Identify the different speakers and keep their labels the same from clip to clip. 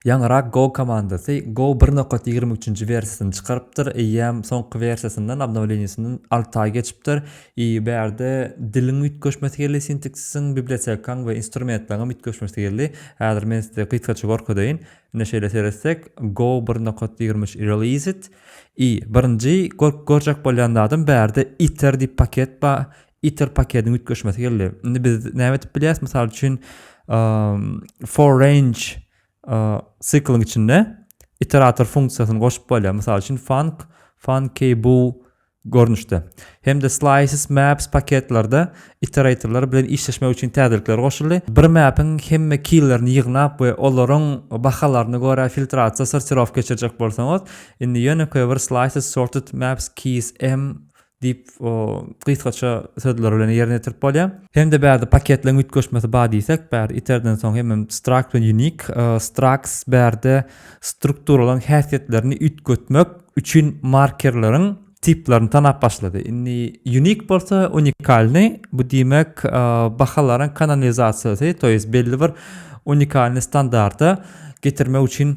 Speaker 1: Ýaňyrak Go komandasy Go bir nokat ýigrimi üçünji wersiýasyny çykarypdyr, eýýäm soňky wersiýasyndan, obnowleniýesinden alty aý geçipdir i bärde diliň üýtgeşmesi geldi, sinteksisiň, bibliotekaň we instrumentleriňem üýtgeşmesi geldi. Häzir men size gysgaça gorkezeýin. Ine şeýle seretsek, Go bir nokat ýigrimi üç released i birinji gör-görjek bolýan zadym bärde iter diýip paket bar, Ether paketiniň üýtgeşmesi geldi. Indi biz näme edip bilýäris? Mysal üçin, for range sikliň içinde iterator funksiýasyny goşup bolýar. Mysal üçin, func funky bu görnüşde. Hem de slices maps paketlerde iteratorlar bilen işleşmek üçin täzelikler goşuldy. Bir mapiň hemme keylerini ýygnap we olaryň bahalaryna görä filtrasiýa sortirowka geçirjek bolsaňyz, indi ýönekeý bir slices sorted maps keys m diýip, o gysgaça sözler bilen ýerine ýetirip bolýar. Hem-de bärde paketleriň üýtgeşmesi bar diýsek, bärde iterden soň hemem struct bilen unique, structs bärde strukturalaryň häsiýetlerini üýtgetmek üçin markerleriň tiplaryny tanap başlady. Indi unique bolsa unikalnyý, bu diýmek, bahalaryň kanonizasiýasy, to ýest belli bir unikalnyý standarta getirmek üçin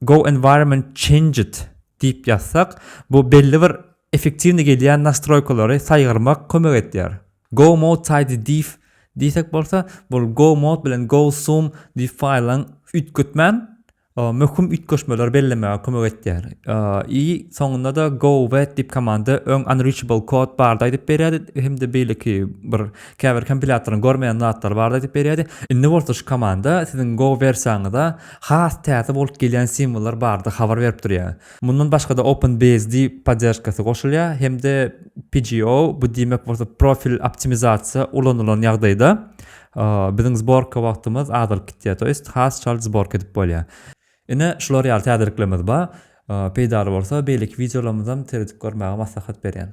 Speaker 1: Go environment changed diýip ýazsak, bu belli bir effektiwnyý gelýän nastroýkalary saýgarmak kömek edýär. Go mode tidy diýf diýsek bolsa, bu go mode bilen go zoom diýf faýlyň üýtgetmän möhüm üýtgeşmeleri bellemäge kömek edýär. I soňunda-da go wet diýp komanda öň unreachable kod bardy aýdyp berýärdi hem-de beýleki bir käbir kompilýatoryň görmeýän zatlary bardy aýdyp berýärdi. Indi bolsa şu komanda siziň go wersiýaňyza has täze bolup gelýän simwollar barada habar berip durýar. Mundan başga-da OpenBSD poddержкасy goşulýar hem-de PGO, bu diýmek bolsa profil optimizasiýa ulanylan ýagdaýda biziň zborka wagtymyz azalyp gitýär, to ýest has çalt zborka edip bolýar. Ine, şular ýaly täzeliklerimiz bar. Peýdaly bolsa beýleki wideolarymyzam seredip görmäge maslahat berýän.